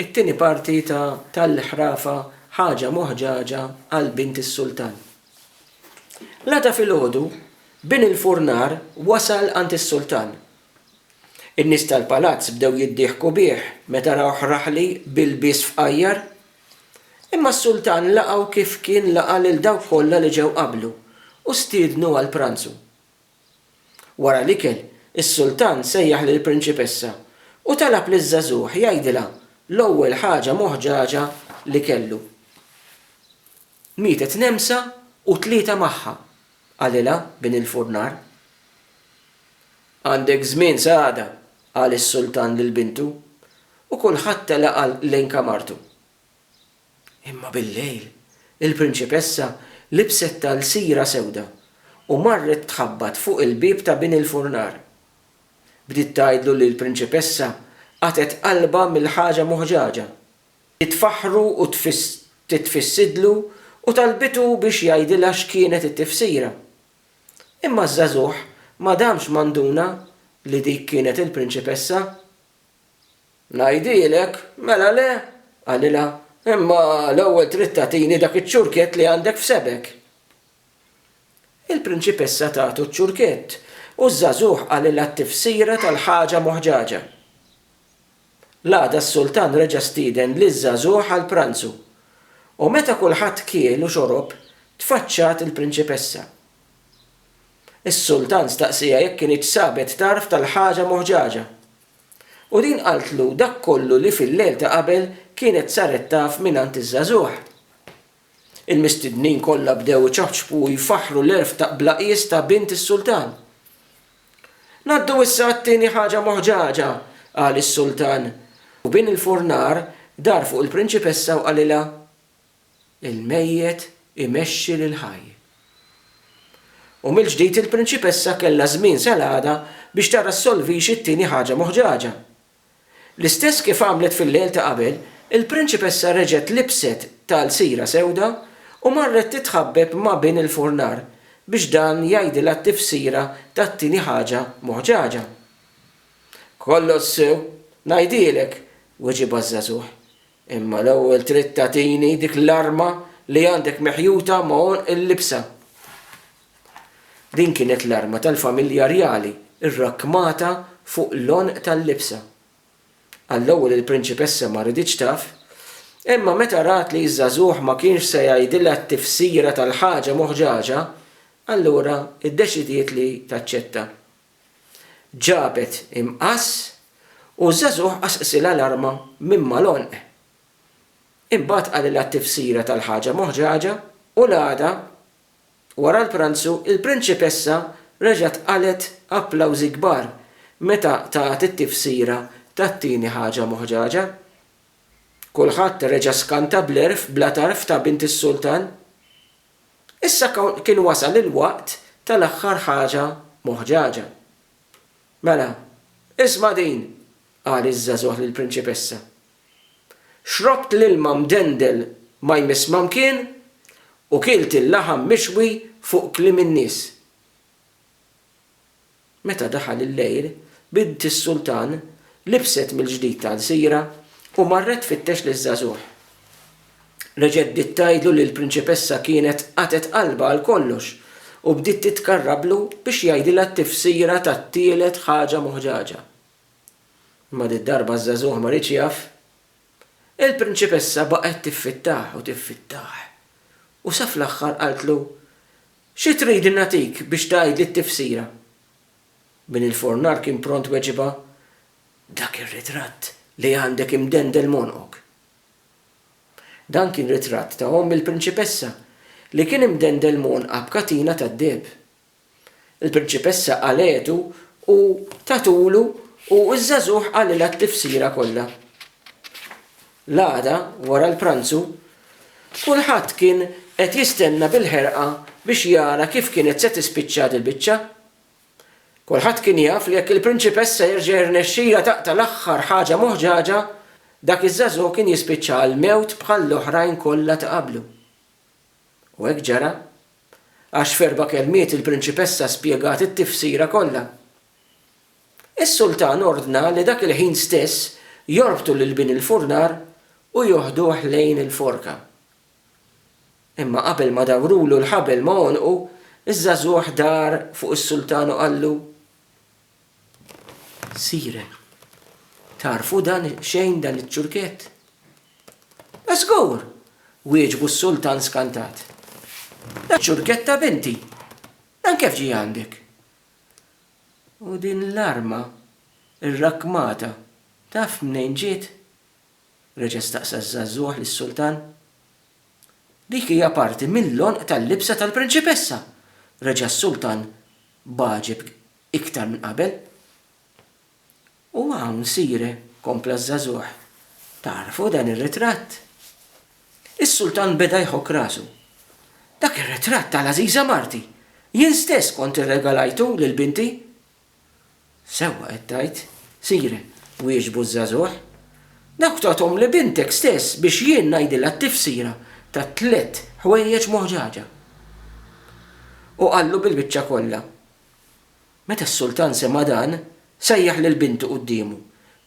It-tieni parti ta' Tal-ħrafa ħaġa moħġaġa għal bint is-sultan. L-għada filgħodu, bin il-furnar wasal għand is-sultan. In-nies tal-palazz bdew jiddieħku bih meta rawh raħli b'ilbies fqajjar. Imma s-sultan laqgħu kif kien laqa' lil dawk kollha li ġew qablu u stiednu għall-pranzu. Wara l-ikel, is-sultan sejjaħ lill-prinċipessa u talab liż-żagħżugħ jgħidilha l-ewwel ħaġa moħġaġa li kellu. Mietet nemsa u tlieta magħha, qalilha bin il-furnar. Għandek żmien sa għada, qal is-sultan lil bintu, u kulħadd telaq lejn kamartu. Imma bil-lejl, il-prinċipessa libset talsira sewda u marret tħabbat fuq il-bieb ta' bin il-furnar. Bdiet tgħidlu li l-prinċipessa qatgħet qalbha mill-ħaġa muħġaġa. Hi tfaħħru u titfissidlu u talbitu biex jgħidilha x'kienet it-tifsira. Imma ż-żagħżugħ ma damx ma nduna li dik kienet il-prinċipessa. Ngħidilek, mela le? qalilha, imma l-ewwel trid tagħtini dak iċ-ċurkett li għandek f'sebgħek. Il-prinċipessa tagħtu ċ-ċurkett u ż-żagħżugħ qalilha t-tifsira tal-ħaġa moħġaġa. L-għada s-sultan reġa' stieden liż-żagħżugħ għall-pranzu, u meta kulħadd kiel u xorob, tfaċċat il-prinċipessa. Is-sultan staqsieha jekk kinitx sabet tarf tal-ħaġa moħġaġa, U din qaltlu dak kollu li fil-lejl ta' qabel kienet saret taf mingħand iż-żagħżugħ. Il-mistednin kollha bdew iċaħċbu u jfaħħru l-għerf ta' bla qies ta' bint is-sultan. Ngħaddu issa għat-tieni ħaġa moħġaġa, qal is-sultan, u bin il-furnar dar fuq il-prinċipessa u qalilha, il-mejjet imexxi lill-ħaj. U mill-ġdid il-prinċipessa kellha żmien sal-għada biex tara ssolvix it-tieni ħaġa moħġaġa. L-istess kif għamlet fil-lejl ta' qabel, il-prinċipessa reġgħet libset talsira sewda u marret titħabbeb ma' bin il-furnar biex dan jgħidilha t-tifsira tat-tieni ħaġa moħġaġa. Kollox sew, ngħidilek, weġibha ż-żagħżugħ. Imma l-ewwel trid tagħtini dik l-arma li għandek meħjuta ma' għonq il-libsa. Din kienet l-arma tal-familja rjali rrakkmata fuq l-għonq tal-libsa. Għall-ewwel il-prinċipessa ma riditx taf, imma meta rat li ż-żagħżugħ ma kienx se jgħidilha t-tifsira tal-ħaġa moħġaġa, allura ddeċidiet li taċċetta. Ġabet imqass u ż-żagħżugħ qasqisilha l-arma minn mal-għonq. Imbagħad qalilha t-tifsira tal-ħaġa moħġaġa u l-għada, wara l-pranzu, il-prinċipessa reġgħet qalgħet applawżi kbar meta tat it-tifsira tat-tieni ħaġa moħġaġa. Kulħadd reġa' skanta bl-għerf bla tarf ta' bint is-sultan. Issa kien wasal il-waqt tal-aħħar ħaġa moħġaġa. Mela, isma' din, qal iż-żagħżugħ lill-prinċipessa. Xrobt l-ilma mdendel ma jmiss ma mkien u kilt il-laħam mixwi fuq kliem in-nies. Meta daħal il-lejl, bint is-sultan libset mill-ġdid tagħlsira u marret tfittex liż-żagħżugħ. Reġgħet bdiet tgħidlu li l-prinċipessa kienet qatgħet qalbha għal kollox u bdiet titkarrablu biex jgħidilha t-tifsira tat-tielet ħaġa moħġaġa. Imma did-darba ż-żagħżugħ ma riedx jaf. Il-prinċipessa baqgħet tiffittah u tiffittah u sa fl-aħħar qaltlu, Xi tridni nagħtik biex tgħidli t-tifsira? Min il-furnar kien pront weġibha, Dak ir-ritratt li għandek imdendel m'għonqok. Dan kien ritratt ta' omm il-prinċipessa li kien imdendel m'għonqha b'katina tad-deheb. Il-prinċipessa qalgħetu u tatulu u ż-żagħżugħ qalilha t-tifsira kollha. L-għada, wara l-pranzu, kulħadd kien qed jistenna bil-ħerqa biex jara kif kienet se tispiċċa dil-biċċa. Kulħadd kien jaf li jekk il-prinċipessa jerġa' jirnexxilha taqta' l-aħħar ħaġa moħġaġa, dak iż-żagħżugħ kien jispiċċa għall-mewt bħall-oħrajn kollha ta' qablu. U hekk ġara, għax f'erba' kelmiet il-prinċipessa spjegat it-tifsira kollha. Is-sultan ordna li dak il-ħin stess jorbtu lil bin il-furnar u joħduh lejn il-forka. Imma qabel ma dawrulu l-ħabel ma' għonqu, iż-żagħżugħ dar fuq is-sultan u qallu, Sire, tagħrfu dan xejn dan iċ-ċurkett? Żgur! wieġbu s-sultan skantat. Iċ-ċurkett ta' binti! Dan kif ġie għandek? U din l-arma rrakkmata taf mnejn ġiet? reġa' staqsa ż-żagħżugħ lis-sultan. Dik hija parti mill-għonq tal-libsa tal-prinċipessa! reġa' s-sultan b'għaġeb iktar minn qabel. U hawn, sire, kompla ż-żagħżugħ, tagħrfu dan ir-ritratt? Is-Sultan beda jħokk rasu. Dak ir-ritratt tal-għażiża marti! Jien stess kont irregalajtu lil binti! Sewwa qed tgħid, sire, wieġbu ż-żagħżugħ. Dawk tagħthom li bintek stess biex jien ngħidilha t-tifsira ta' tliet ħwejjeġ moħġaġa. U qallu bil-biċċa kollha. Meta s-sultan sema' dan, sejjaħ lil bintu quddiemu.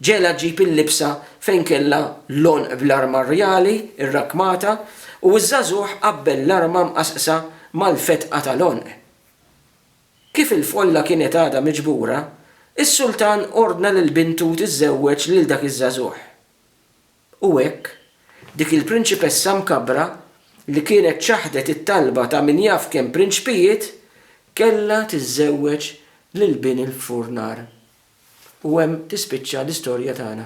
Ġegħelha ġġib il-libsa fejn kellha l-għonq bl-arma rjali rrakkmata u ż-żagħżugħ qabbel l-arma mqassqsa mal-fetqa tal-għonq. Kif il-folla kienet għadha miġbura, is-sultan ordna lil bintu tiżżewweġ lil dak iż-żagħżugħ. U hekk, dik il-prinċipessa mkabbra li kienet ċaħdet it-talba ta' min jaf kemm prinċpijiet, kellha tiżżewweġ lil bin il-furnar. U hemm tispiċċa l-istorja tagħna.